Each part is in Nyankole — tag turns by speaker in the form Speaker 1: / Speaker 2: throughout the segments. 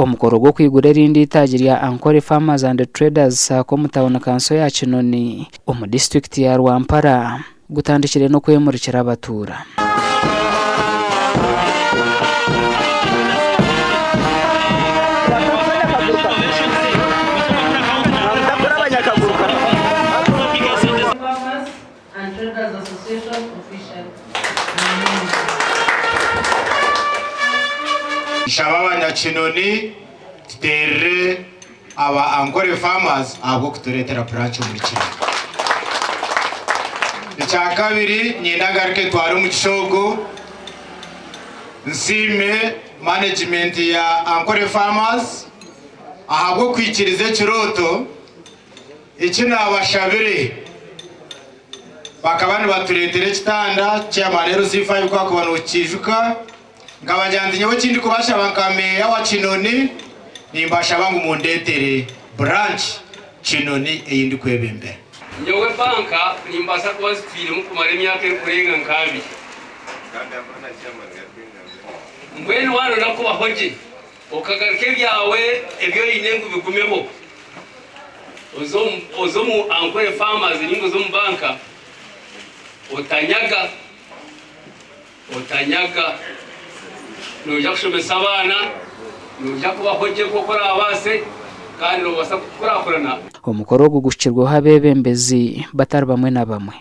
Speaker 1: Omukoro gw'okwigura erindi eitaagi rya Ankole Farmers and Traders Sacco omu tauni kanso ya Kinoni omu disiturikiti ya Rwampara gutandikire n'okwemurikira abatuura.
Speaker 2: and Traders Association official. Nshaba abanyakinoni tuterere aba Ankole Farmers ahabw'okuturetera branch omuri Kinoni. Ekyakabiri ninyenda ngaruke ntware omugisha ogu nsiime management ya Ankole Farmers ahabw'okwikiriza ekirooto. Eki naabashabire. Bakaba nibatureetera ekitanda, Chairman LC5 ku waakuba nookikiijuka, nkabagira nti nyowe eki ndikubashaba nka Meeya wa Kinoni, nimbashaba ngu mundeetere branch Kinoni ei ndikwebembera. Nyowe banka
Speaker 3: nimbaasa kuba nzitwiremu kumara emyaka erikurenga nka abiri. Mbwenu waanoyenda kubaho gye, Okagaruka ebyawe ebi oine ngu bigumeho oze omu Ankole Farmers nainga oze omu banka otanyaga, otanyaga. Noija kushomesa abaana, noija kubaho gye nk'oku oraabaase kandi noobaasa kukurakurana. Omukoro ogu
Speaker 1: guhikirweho abeebembezi batari bamwe na bamwe.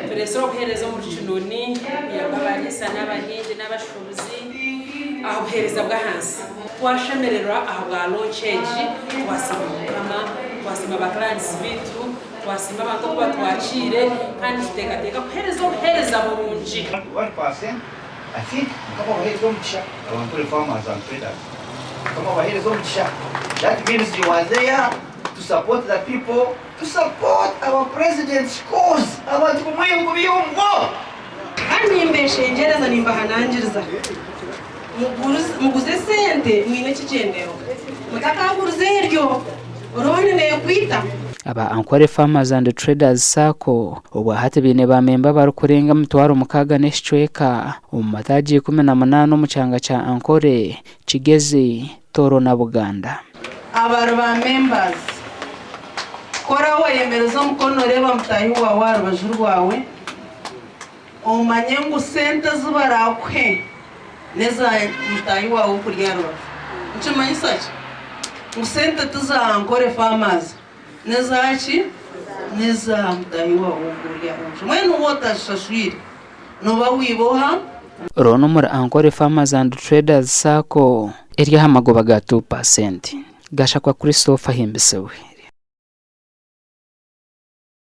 Speaker 1: Tureetsire obuheereza
Speaker 4: omuri kinuuni ya Bariisa n'abahingi n'abashuubuzi aha buheereza bw'ahansi. Twashemererwa aha bwa launch egi, twasiima Mukama, twasiima ba clients baitu, twasiima abantu oku batwakiire kandi nituteekateeka kuheereza obuheereza burungi. One percent I think
Speaker 5: mukama abahereze omugisha abankole farmers and traders mukama abahereze omugisha that means you are there to support the people. To support our president coz abantu bamwe ebigo byongo. Kandi
Speaker 4: nimbeshengyereza nimbahanangiriza muguze sente mwine ekigyendero mutakaguriza eryo loan nekwita. Aba Ankole
Speaker 1: Farmers and Traders Sacco obwahati baine ba memba abarikurenga emitwaro mukaaga n'ekicweka omu mataagi ikumi na munaana omu kyanga kya Ankole Kigezi, Tooro na Buganda. Abari ba
Speaker 4: members. Ku oraba oyemereza omukono noreeba mutahi wawe aha rubaju rwawe, omanye ngu sente ezi barakuhe neza mutahi wawe okuri aha rubaju. Nikimanyisa ki? Ngu sente ti za Ankore Farmers. N'eza ki? N'eza mutaahi waawe ou ori aha nju. Mbwenu waaba otaashashwire, nooba wiiba oha? Rono omuri
Speaker 1: Ankole Farmers and Traders Sacco. Eri aha magoba ga two percent. Gashakwa Christopher ahimbisibwe.